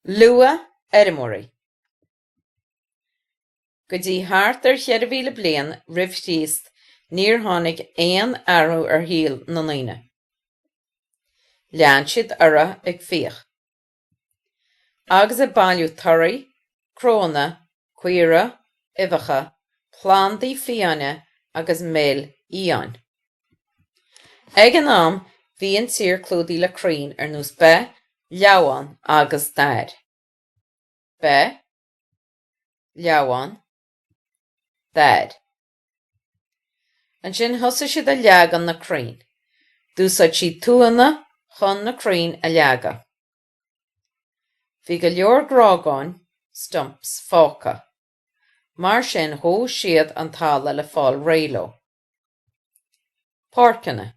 Luathfheirmeoirí. Go dtí thart ar cheithre mhíle bliain roimh Chríost níor tháinig aon athrú ar shaol na ndaoine. Lean siad orthu ag fiach, agus ag bailiú torthaí, cnónna caora, uibheacha, plandaí fiáine agus mil fhiáin. Ag an am, bhí an tír clúdaithe le crainn ar nós beith, leamhán agus dair. beith, leamhán, dair. Ansin, thosaigh siad ag leagan na crainn. D'úsáid siad tuanna chun na crainn a leagan. Bhí go leor grágáin, stumps, fágtha. Mar sin dhóigh siad an talamh le fáil réidh leo. Páirceanna.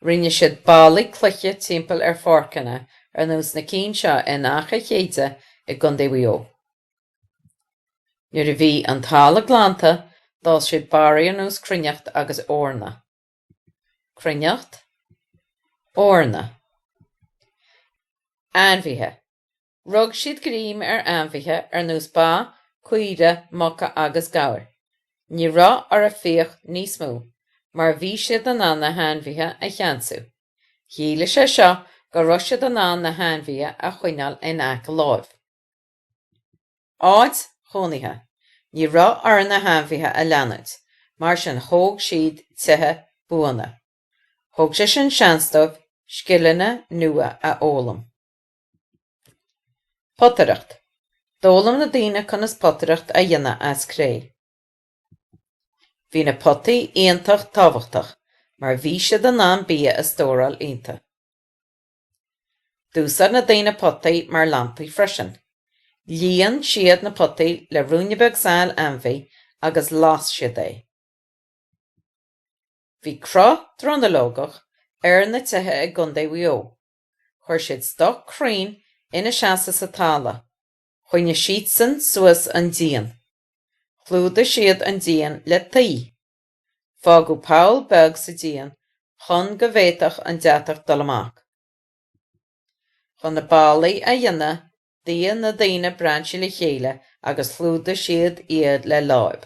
Rinne siad ballaí cloiche timpeall ar pháirceanna ar nós na cinn seo in Achaidh Chéide i gContae Mhaigh Eo. Nuair a bhí an talamh glanta d'fhás siad barra ar nós cruithneacht agus eorna. cruithneacht, eorna. Ainmhithe, Rug siad greim ar ainmhithe ar nós ba, caoirigh, muca agus gabhair. Ní raibh orthu fiach níos mó mar bhí siad in ann na hainmhithe a cheansú. Chiallaigh sé seo go raibh siad in ann na hainmhithe a choinneáil in aice láimh. Áit chónaithe, Ní raibh orthu na hainmhithe a leanúint, mar sin thóg siad tithe buana. Thug sé sin seans dóibh scileanna nua a fhoghlaim. Potaireacht, D'fhoghlaim na daoine conas potaireacht a dhéanamh as cré. Bhí na potaí iontach tábhachtach mar bhí siad in ann bia a stóráil iontu. D'úsáid na daoine potaí mar lampaí freisin. Líon siad na potaí le ruainne beag saill ainmhí agus las siad é. Bhí cruth dronuilleogach ar na tithe i gContae Mhaigh Eo. Chuir siad stoic crainn ina seasamh sa talamh. Choinnigh siadsan suas an díon. Chlúdaigh siad an díon le tuí. Fágadh poll beag sa díon chun go bhféadfadh an deatach dul amach. Chun na ballaí a dhéanamh, d'fhigh na daoine brainsí le chéile agus chlúdaigh siad iad le láib.